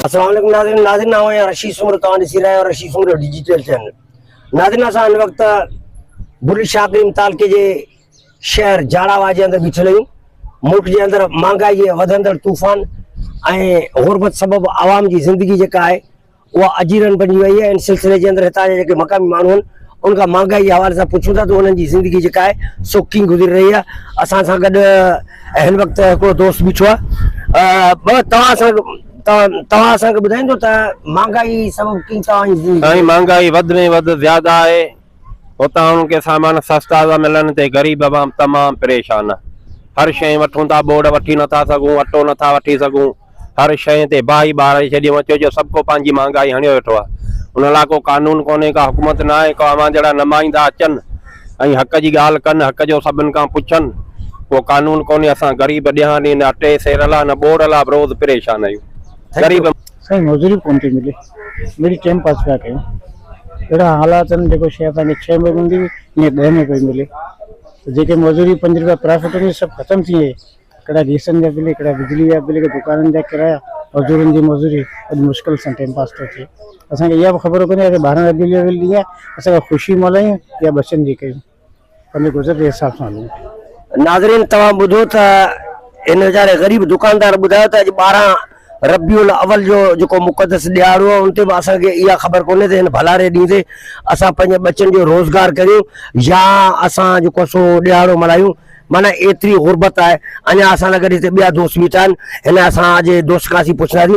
السلام علیکم ناظرین ناظرین آؤں آهيان رشيد سومرو توهان ڏسي رهيا آهيو رشيد سومرو ڊيجيٽل چينل ناظرين اسان هن وقت برل شاهه ڪريم تعلقي جي شهر جاڙاوا جي اندر بيٺل آهيون ملڪ جي اندر مهانگائي جي وڌندڙ طوفان ۽ غربت سبب عوام جي زندگي جيڪا آهي اها اجيرن بنجي وئي آهي، ان سلسلي جي اندر هتان جا جيڪي مقامي ماڻهو آهن، انهن کان مهانگائي جي حوالي سان پڇون ٿا ته انهن جي زندگي جيڪا آهي سو ڪيئن گذري رهي آهي، اسان سان گڏ هن وقت هڪڙو دوست بيٺو آهي، ٻه توهان اسان کي توهان اسان کي ٻڌائيندو ته مهانگائي سبب ڪيئن توهان جي زندگي. سائين مهانگائي وڌ ۾ وڌ زياده آهي، اتان هن کي سامان سستا ٿا ملن تي غريب عوام تمام پريشان آ هر شئي وٺون ٿا بورڊ وٺي نٿا سگهون اٽو نٿا وٺي سگهون هر شئي تي باهه ٻاري ڇڏيون اچو جو سڀ ڪو پنهنجي مهانگائي هڻيو ويٺو آ ان لاء ڪو قانون ڪونهي ڪا حڪومت نه آهي ڪو اوهان جهڙا نمائندا اچن ۽ حق جي ڳالهه ڪن حق جو سڀن کان پڇن ڪو قانون ڪونهي اسان غريب ڏيهاڻي نه اٽي سير لا نه بورڊ لا به روز پريشان آهيون غريب سائين مزوري ڪون ٿي ملي مڙئي ٽيم پاس پيا ڪيون اهڙا حالات آهن جيڪو شي اسان کي ڇهه مهينن جي ۽ ڏهه ۾ پئي ملي ته جيڪي مزوري پنج روپيا پرافٽ هوندي سڀ ختم ٿي ويئي ڪهڙا گيسن جا بل ڪهڙا بجلي جا بل ڪهڙا دڪانن جا ڪرايا مزورن جي مزوري اڄ مشڪل سان ٽيم پاس ٿو ٿئي اسان کي اها به خبر ڪونهي ته ٻارهن ربيع الاول ڏينهن اسان کي خوشي ملهايون يا ٻچن جي ڪيون پنهنجي گذر جي حساب سان هلون. ناظرين توهان ٻڌو ته هن ويچاري غريب دڪاندار ٻڌايو ته اڄ ٻارهن ربيع الاول جو جيڪو مقدس ڏيهاڙو آهي ان تي به اسان کي اها خبر ڪونهي ته هن ڀلاري ڏينهن تي اسان پنهنجي ٻچن جو روزگار ڪريون يا اسان جيڪو سو ڏيهاڙو ملهايون معنيٰ ايتري غربت آهي اڃا اسان سان گڏ هتي ٻيا دوست بيٺا آهن هن اسان جي دوست کان اسين پڇندا سين.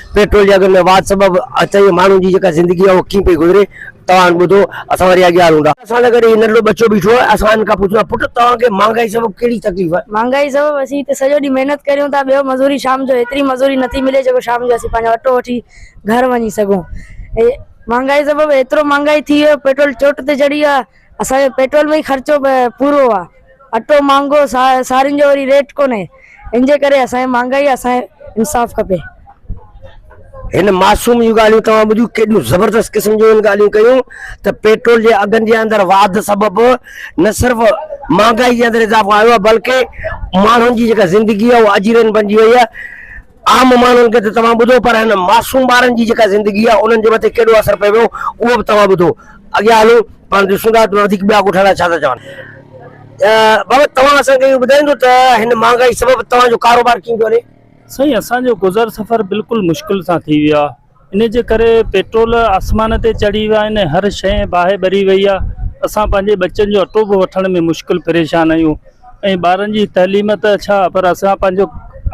پيٽرول جي اگهن ۾ واڌ سبب اچائيء ماڻهن جي جيڪا زندگي آهي اها ڪيئن پئي گذري، توهان ٻڌو، اسان وري اڳيان هلون ٿا. اسان سان گڏ هي ننڍڙو ٻچو بيٺو آهي، اسان هن کان پڇيو ته پٽ توهان کي مهانگائي سبب ڪهڙي تڪليف آهي؟ مهانگائي سبب اسين هتي سڄو ڏينهن محنت ڪريون ٿا، ٻيو مزوري شام جو هيتري مزوري نٿي ملي جيڪو شام جو اسين پنهنجو اٽو وٺي گهر وڃي سگهون. مهانگائي سبب هيترو مهانگائي ٿي وئي آهي، پيٽرول چوٽ تي چڙهي ويو آهي. اسان جو پيٽرول ۾ ئي خرچو پورو آ، اٽو مھانگو، سارين جو وري ريٽ ڪونھي، ان جي ڪري اسان کي مھانگائي آ، اسان کي انصاف کپي. ھن معصوم جون ڳالھيون توھان ٻڌيون، ڪيڏيون زبردست قسم جون ھن ڳالھيون ڪيون ته پيٽرول جي اگھن جي اندر واڌ سبب نه صرف مھانگائي جي اندر اضافو آيو آ بلڪه ماڻھن جي جيڪا زندگي آ اھا اجيرن بنجي وئي آ، عام ماڻهن کي ته توهان ٻڌو پر هن معصوم ٻارن جي جيڪا زندگي آهي انهن جي مٿي ڪيڏو اثر پئي ويو اهو به توهان ٻڌو اڳيان هلو پاڻ ڏسون ٿا ته وڌيڪ ٻيا ڳوٺ وارا ڇا ٿا چون. بابت توهان اسان کي اهو ٻڌائيندو ته هن مهانگائي سبب توهان جو ڪاروبار ڪيئن پيو هلي؟ سائين اسان جو گذر سفر بلڪل مشڪل سان ٿي ويو آهي. انهي جي ڪري پيٽرول آسمان تي چڙهي ويا آهن ۽ هر شيء باهه ٻري وئي آهي، اسان پنهنجي ٻچن جو اٽو به وٺڻ ۾ مشڪل پريشان آهيون ۽ ٻارن جي تعليم ته ڇا پر اسان پنهنجو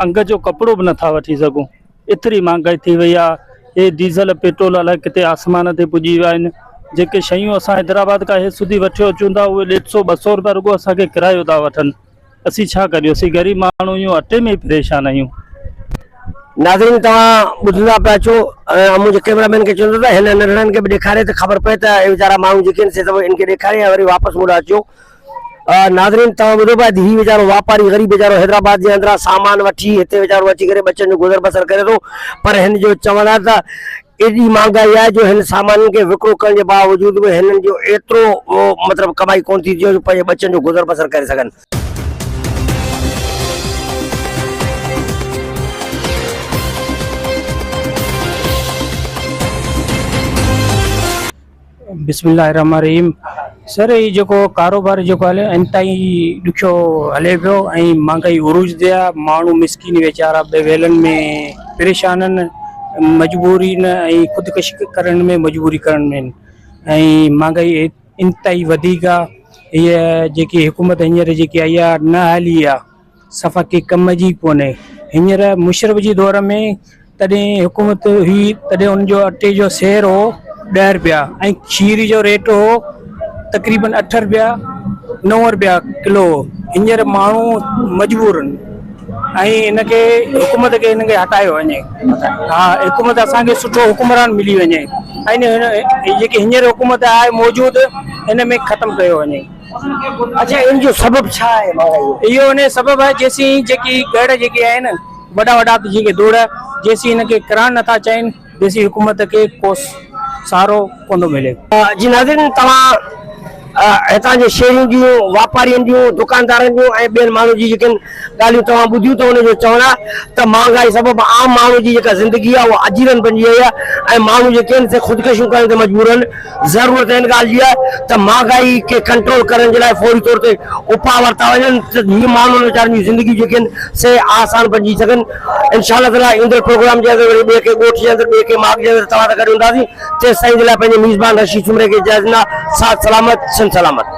انگ جو ڪپڙو به نٿا وٺي سگهون ايتري مهانگائي ٿي وئي آهي هي ڊيزل پيٽرول الاء ڪٿي آسمان تي پڄي ويا آهن جيڪي شيون اسان حيدرآباد کان هي سڌي وٺي اچون ٿا اهي ڏيڍ سو ٻه سو روپيا رڳو اسان کي ڪرايو ٿا وٺن. اسين ڇا ڪريون اسين غريب ماڻهو اهيون اٽي ۾ ئي پريشان اهيون. ناظرين توهان ٻڌندا پيا اچو ۽ منهنجي ڪيمرا مين کي چوندو ته هن ننڍڙن کي به ڏيکاري ته خبر پئي ته اهي ويچارا ماڻهو جيڪي آهن سي سڀ ان کي ڏيکاري ۽ وري واپس مون ڏانهن اچو ناظرين توهان ٻڌو پيا ته هي ويچارو واپاري غريب ويچارو حيدرآباد جي اندران سامان وٺي هتي ويچارو اچي ڪري ٻچن جو گذر بسر ڪري ٿو پر هن جو چوڻ آهي ته ايڏي مھانگائي آھي جو ھن سامانن کي وڪرو ڪرڻ جي باوجود به ھنن جو ايترو مطلب ڪمائي ڪونه ٿي ٿئي جو پنھنجي ٻچن جو گذر بسر ڪري سگھن. بسم الله الرحمٰن الرحيم سر هي جيڪو ڪاروبار جيڪو هلي انتهائي ڏکيو هلي پيو ۽ مهانگائي عروج تي آهي ماڻهو مسڪين ويچارا بي ويلن ۾ پريشان آهن مجبوري نه ۽ خودڪشي ڪرڻ ۾ مجبوري ڪرڻ ۾ آهن ۽ مهانگائي انتهائي وڌيڪ آهي هيء جيڪي حڪومت هينئر جيڪي آئي آهي نه هلي آهي صفا ڪي ڪم جي ڪونهي هينئر مشرف جي دور ۾ تڏهن حڪومت هئي تڏهن ان جو اٽي جو سير هو ڏهه رپيا ۽ کير جو ريٽ هو تقريبن اٺ رپيا نو رپيا ڪلو هو هينئر ماڻهو مجبورن ۽ ان کي حڪومت کي ان کي هٽايو وڃي ها حڪومت اسان کي سٺو حڪمران ملي وڃي ۽ جيڪي هينئر حڪومت آهي موجود ان ۾ ختم ڪيو وڃي اڇا ان جو سبب ڇا آهي مهانگائي جو؟ اهو ان جو سبب آهي جيسين جيڪي ڳڙ جيڪي آهن وڏا وڏا جن کي دوڙ جيسين ان کي ڪرڻ نٿا چاهين تيسين حڪومت کي ڪو سهارو ڪونه ملي. جي ناظرين توهان هتان جي شيرين جون واپارين جون دڪاندارن جون ۽ ٻين ماڻهن جون جيڪين ڳالهيون توهان ٻڌيون ته ان جو چوڻ آهي ته مهانگائي سبب عام ماڻهو جي جيڪا زندگي آهي اها اجيرن بنجي وئي آهي ۽ ماڻهو جيڪي آهن سي خودڪشيون ڪرڻ تي مجبور آهن، ضرورت ان ڳالهه جي آهي ته مهانگائي کي ڪنٽرول ڪرڻ جي لاء فوري طور تي اپاء ورتا وڃن ته جيئن ماڻهن ويچارن جون زندگيون جيڪي آهن سي آسان بنجي سگهن انشاء الله تعاليٰ ايندڙ پروگرام جي اندر وري ٻئي ڪنهن ڳوٺ جي اندر ٻئي ڪنهن ماڳ جي اندر توهان سان گڏ هونداسين تيستائين جي لاء پنهنجي ميزبان رشيد سومري کي اجازت ڏيندو آهيان ساٿ سلامت سنڌ سلامت.